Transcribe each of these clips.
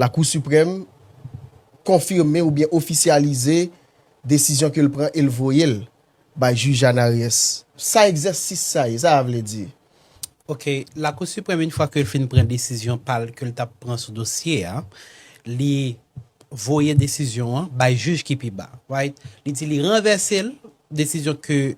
Lakou Siprèm konfime oubyen ofisyalize desizyon ke l pran e l voye l bay Jij Anaries. Sa egzèsis sa ye? Sa a vle di? Ok. Lakou Siprèm in fwa ke l fin pran desizyon pa l ke l t ap pran sou dosye a, li voye desizyon an bay jij ki pi ba, right? Li di li ranvèse l, desizyon ke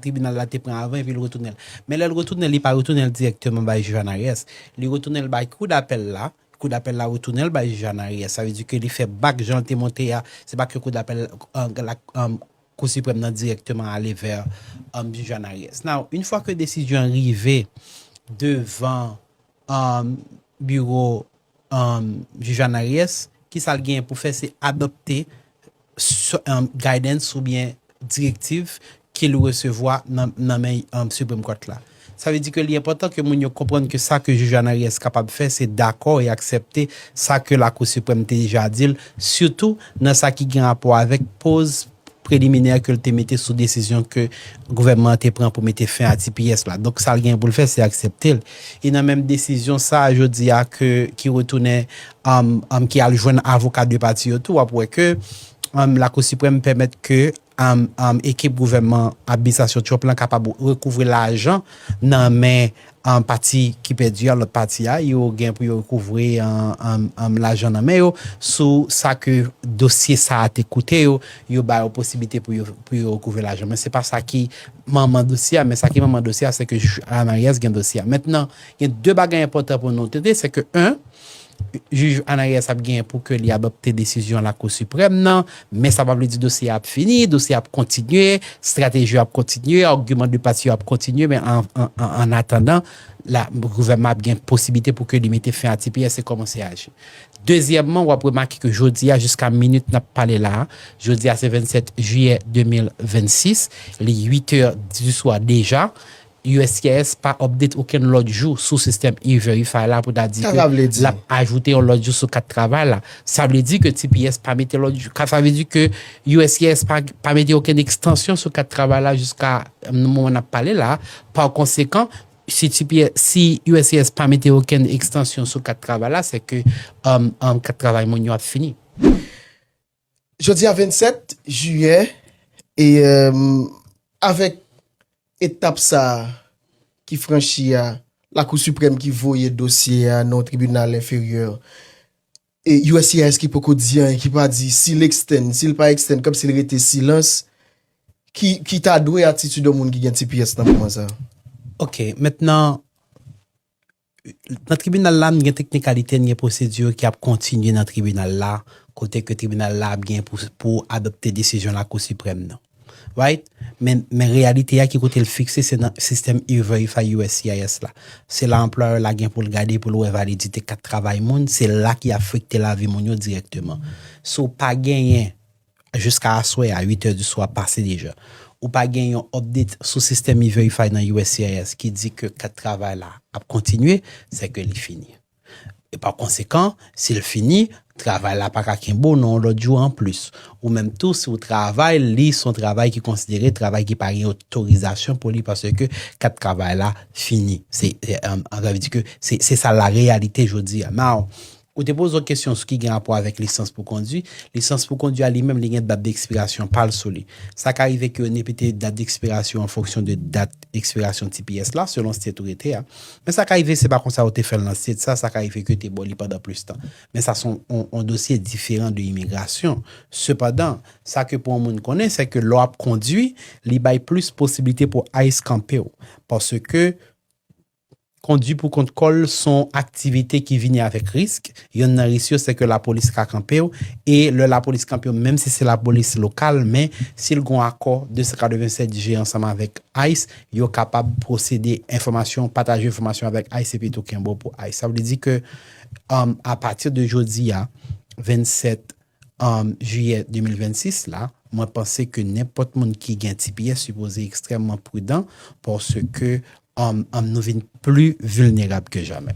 tribinal la te pran avan epi l retounen l. Men lè l retounen l, li pa retounen l dirèkteman bay Jij Anaries. Li retounen l bay Kou Dapèl la Kou dapèl la retounen l bay jij an aryè. Sa vle di ke li fè bak jan l te monte a. Se pa ke kou dapèl la Kou Siprèm nan dirèkteman ale vè jij an aryè. Now, une fwa ke desizyon an rive devan biwo jij an aryè, kisa l genyen pou fè se adopte guidance oubyen direktiv ke l resevwa nan men Supreme Court la. Sa vle di ke li enpòtan ke moun yo konprann ke sa ke Jij Anariès kapab fè se dakò e aksepte sa ke Lakou Siprèm te deja di l, sitou nan sa ki gen rapò avèk poz preliminè ke l te mete sou desizyon ke gouvènman an te pran pou mete fen a tps la. Donk sa l genyen pou l fè se aksepte l. E nan menm desizyon sa a jodi a ke ki retounen ki al jwenn avoka 2 pati yo tou w ap wè ke Lakou Siprèm pèmèt ke ekip gouvènman administrasyon Trump lan kapab rekouvre lajan nan men pati ki pèdi a lòt pati a yo gen pou yo rekouvre lajan nan men yo sou sa ke dosye sa a te koute yo yo ba yo posiblite pou yo rekouvre lajan men se pa sa ki Manman dosye a, men sa ki manman dosye a, sèke jij Anayès gen dosye a. Mentnan, gen 2 bagay enpòtan pou nou tete, sèke 1, Jij Anayès ap gen pou ke li adòpte desizyon Lakou Siprèm nan, men sa pa vle di dosye a ap fini, dosye a ap kontinye, strateji yo ap kontinye, argument de pati yo ap kontinye, men an atandan, la, gouvènman ap gen posiblite pou ke li mete fen a tps e kòmanse aji. Dezyèmman, w ap remake ke jodi a, jiska minit n ap pale la a, jodi a se 27 jiyè 2026, li 8 è di swa deja, uscis pa update okenn lòt jou sou sistèm E-Verify la pou ta di ke l ap ajoute yon lòt jou sou kat travay la. Sa vle di ke tps pa mete lòt jou, sa vle di ke uscis pa mete okenn ekstansyon sou kat travay la jiska moman n ap pale la a. Pakonsekan, Si Tipierre, si uscis pa mete okenn ekstansyon sou kat travay la, se ke kat travay moun yo ap fini. Jodi a 27 jiyè, e avèk etap sa a ki franchi a, Lakou Siprèm ki voye dosye a nan yon tribinal enferyè, E uscis ki poko di anyen, ki pa di si l ekstèn, si l pa ekstèn, kòmsi l rete silans, ki ta dwe atitid yon moun ki gen tps nan moman sa a? Ok, mentnan, nan tribinal la, n gen teknikalite, n gen pwosedi ki ap kontinye nan tribinal la, kote ke tribinal la ap gen pou adopte desizyon Lakou Siprèm nan. Right? Men, men reyalite a ki kote l fikse se nan sistèm E-Verify uscis la. Se la anplwayè la gen pou l gade pou l wè validite kat travay moun, se la ki afekte lavi moun yo dirèkteman. Si w pa genyen, jiska aswè a, 8 è di swa pase deja, ou pa gen yon update sou sistèm E-Verify nan uscis ki di ke kat travay la ap kontinye, sè ke li fini. E pa konsekan, si l fini, travay la pa ka kenbe w nan yon lòt jou anplis. Ou menm tou, si w travay li, se yon travay ki konsidere travay ki pa gen otorizasyon pou li paske kat travay la fini. Se, sa vle di ke se sa la reyalite jodi a. Now, ou te poze yon kesyon sou ki gen rapò avèk lisans pou kondwi. Lisans pou kondwi a li menm li gen dat dekspirasyon pa l sou li. Sa ka rive ke yo nepete dat dekspirasyon an fonksyon de dat ekspirasyon tps la, selon state ou rete a. Men sa ka rive se pa konsa yo te fè l nan state sa, sa ka rive ke yo te ba w li pandan plis tan. Men sa se yon dosye diferan de imigrasyon. Sepandan, sa ke pou yon moun konnen se ke lè w ap kondwi, li bay plis posiblite pou ice kanpe w. Paske kondwi pou kont kò l se yon aktivite ki vini avèk risk. Yonn nan risk yo se ke lapolis ka kanpe w e lè lapolis kanpe w menm si se lapolis lokal men si l gen yon akò 287 G ansanm avèk ice, yo kapab pwosede enfòmasyon, pataje enfòmasyon avèk ice epi tou kenbe w pou ice. Sa vle di ke apati de jodi a, 27 jiyè 2026 la, mwen panse ke nenpòt moun ki gen tps sipoze ekstrèmman pridan paske nou vin pli vilnerab ke jamè.